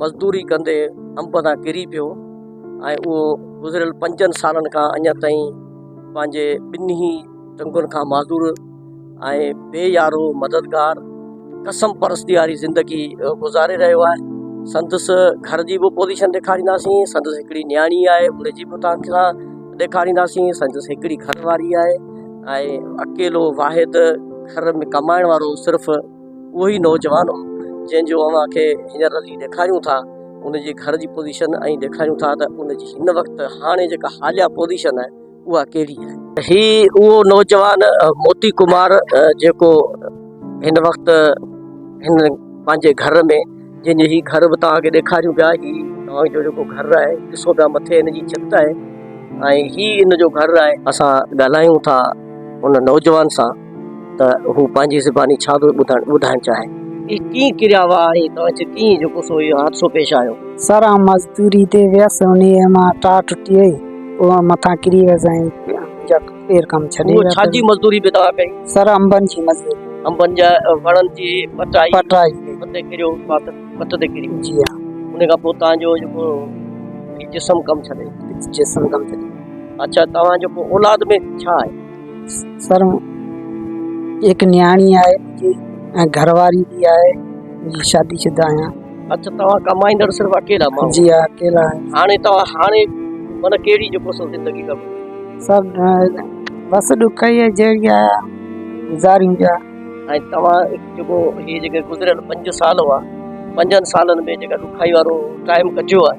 مزدوري ڪندي انب تان ڪري پيو ۽ اهو گذريل پنجن سالن کان اڃا تائين پنهنجي ٻنهي ٽنگن کان معذور ۽ بي يارو مددگار قسم پرستي واري زندگي گذاري رهيو آهي سندس گهر جي به پوزيشن ڏيکارينداسين سندس هڪڙي نياڻي آهي ان جي به تان سان ڏيکارينداسين سندس هڪڙي گهر واري آهي ۽ اڪيلو واحد گهر ۾ ڪمائڻ وارو صرف اهو ئي نوجوان هو جنهن جو اوهان کي هينئر اسين ڏيکاريون ٿا ان جي گهر جي پوزيشن ۽ ڏيکاريون ٿا ته ان جي هن وقت هاڻي جيڪا حاليا پوزيشن آهي اها ڪهڙي آهي هي اهو نوجوان موتي ڪمار جيڪو هن وقت هن پنهنجي گهر ۾ جنهن جي هي گهر به توهان کي ڏيکاريون پيا هي توهان جو جيڪو گهر آهي ڏسو پيا مٿي هن جي ڇت آهي ۽ هي ان جو گهر آهي اسان ڳالهايون ٿا ان نوجوان سان ته هو پنهنجي زباني ڇا ٿو ٻڌائڻ چاهي. هي ڪيئن ڪريا هئا ۽ توهان کي ڪيئن جيڪو سو اهو حادثو پيش آيو. سر آئون مزدوري تي ويس انهيء مان ٽار ٽٽي وئي هوء مٿان ڪري ويس ۽ جا پير ڪم ڇڏي ويا. هوء ڇا جي مزدوري به توهان ڪئي. سر انبن جي مزدوري. انبن جا وڻن جي پٽائي. پٽائي ڪئي. پٽ تي ڪريو پٽ تي ڪري. جي ها. انهيء کان پوء توهان جو جيڪو جسم ڪم ڇڏي. جسم ڪم ڇڏي. اڇا توهان جيڪو اولاد ۾ ڇا آهي. سر هڪ نياڻي آهي منهنجي ۽ گهر واري به آهي مان شادي شده آهيان اچا توهان ڪمائيندڙ صرف اڪيلا ماڻهو جي ها اڪيلا آهيان هاڻي توهان هاڻي من ڪهڙي جيڪو سو زندگي ڪم سر بس ڏک ئي جهڙي آهي گذاريون پيا ۽ توهان جيڪو هي جيڪي گذريل پنج سال هئا پنجن سالن ۾ جيڪا ڏکائي وارو ٽائيم ڪٽيو آهي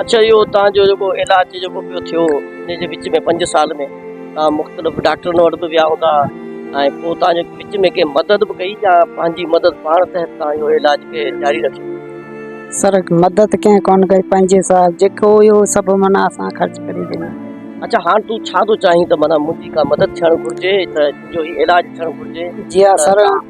اڇا اهو تان جو جيڪو علاج جيڪو پيو ٿيو ان جي وچ ۾ پنج سال ۾ تان مختلف ڊاڪٽرن وٽ به ويا هوندا ۽ پوء تان جي وچ ۾ ڪنهن مدد به ڪئي يا پنهنجي مدد پاڻ تحت تان اهو علاج کي جاري رکيو سر مدد ڪنهن ڪون ڪئي پنج سال جيڪو هيو سڀ منا اسان خرچ ڪري ڏنو اڇا هاڻ تون ڇا ٿو چاهين ته منا منهنجي ڪا مدد ٿيڻ گهرجي ته جو هي علاج ٿيڻ گهرجي جي ها سر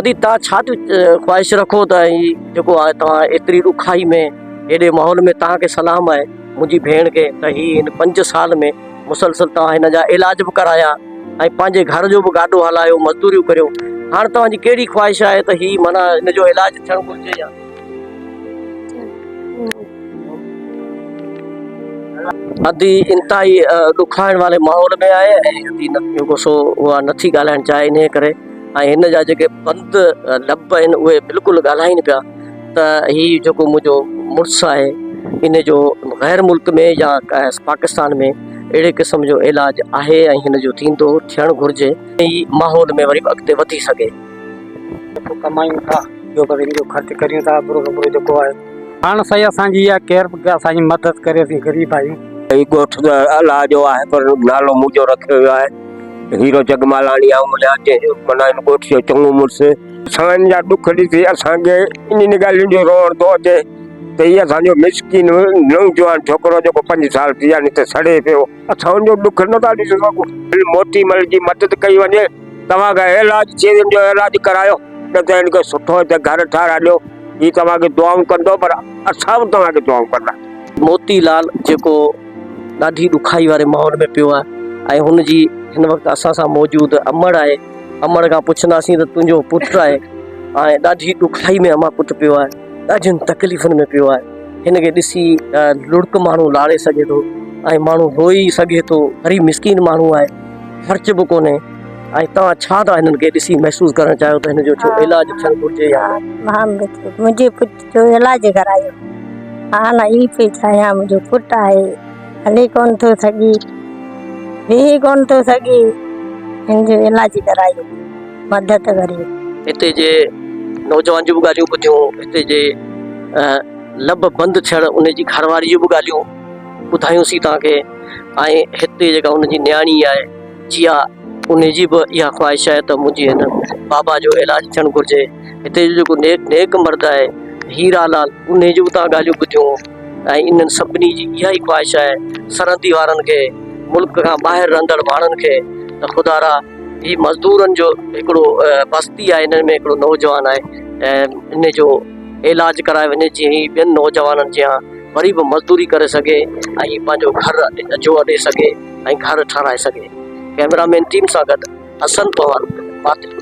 ادي توهان ڇا ٿي خواهش رکو ته هي جيڪو آهي توهان ايتري ڏکائي ۾ هيڏي ماحول ۾ توهان کي سلام آهي منهنجي ڀيڻ کي ته هي هن پنج سال ۾ مسلسل توهان هن جا علاج به ڪرايا ۽ پنهنجي گهر جو به گاڏو هلايو مزدوريون ڪريو هاڻ توهان جي ڪهڙي خواهش آهي ته هي معنيٰ هن جو علاج ٿيڻ گهرجي يا ادي انتهائي ڏکائڻ واري ماحول ۾ آهي ۽ ادي جيڪو سو اها نٿي ڳالهائڻ چاهي انهي ڪري ۽ هن جا جيڪي بند لب آهن اهي بلڪل ڳالهائين پيا ته هي جيڪو منهنجو مڙس آهي ان جو غير ملڪ ۾ يا پاڪستان ۾ اهڙي قسم جو علاج آهي ۽ هن جو ٿيندو ٿيڻ گهرجي ته هي ماحول ۾ وري به اڳتي وڌي سگهي. پيسو ڪمايون ٿا ٻيو به هن جو خرچ ڪريون ٿا ابرو ڪبرو جيڪو آهي. پاڻ سائين اسان جي اها ڪيئر اسان جي مدد ڪري اسين غريب آهيون. هي ڳوٺ ته الله جو آهي پر نالو منهنجو رکيو ويو آهي هيرو جگمالاڻي يا امليا جنهن جو معنيٰ هن ڳوٺ جو چڱو مڙس. سائين جا ڏک ڏسي اسان کي انهن ڳالهين جو روئڻ ٿو اچي ته هي اسان جو مسڪين نوجوان ڇوڪرو جيڪو پنج سال ٿي ويا نت سڙي پيو. اسان جو ڏک نه ٿا ڏسي سگهون. ڀل موتي مل جي مدد ڪئي وڃي. توهان کي ايلاج ٿئي هن جو ايلاج ڪرايو نه ته هن کي سٺو هتي گهر ٺهرائي ڏيو. هي توهان کي دعائون ڪندو پر اسان به توهان کي دعائون ڪنداسين. موتي لال جيڪو ڏاڍي ڏکائي واري ماحول ۾ پيو آهي ۽ هن جي هن وقت اسان سان موجود امڙ آهي. امڙ کان پڇنداسين ته تنهنجو پٽ آهي ۽ ڏاڍي ڏکائي ۾ امان پٽ پيو آهي. ڏاڍين تڪليفن ۾ پيو آهي هن کي ڏسي لڙڪ ماڻهو لاڙي سگهي ٿو ۽ ماڻهو روئي سگهي ٿو غريب مسڪين ماڻهو آهي خرچ به ڪونهي ۽ توهان ڇا ٿا هنن کي ڏسي محسوس ڪرڻ چاهيو ته هن جو ڇو علاج ٿيڻ گهرجي يا منهنجي پٽ جو علاج ڪرايو حال اهي پئي چاهيان منهنجو پٽ آهي هلي ڪون ٿو سگهي ويهي ڪون ٿو سگهي هن جو علاج ڪرايو مدد وري. هتي جي نوجوان جون به ڳالهيون ٻڌيون، هتي جي لب بند ٿيڻ ان جي گهر واري جون به ڳالهيون ٻڌايون سين توهان کي ۽ هتي جيڪا ان جي نياڻي آهي جيا ان جي به اها خواهش آهي ته منهنجي هن بابا جو علاج ٿيڻ گهرجي. هتي جو جيڪو نيڪ نيڪ مرد آهي هيرا لال ان جون به توهان ڳالهيون ٻڌيون ۽ انهن سڀني جي اها ئي خواهش آهي سرحدي وارن کي ملڪ کان ٻاهر رهندڙ ماڻهن کي ته خدارا هي مزدورن جو هڪڙو بستي آهي هن ۾ هڪڙو نوجوان آهي ۽ ان جو علاج ڪرايو وڃي جي هي ٻين نوجوانن جيان وري به مزدوري ڪري سگهي ۽ پنهنجو گهر جو اڏي سگهي ۽ گهر ٺهرائي سگهي ڪيمرا مين ٽيم سان گڏ حسن پوان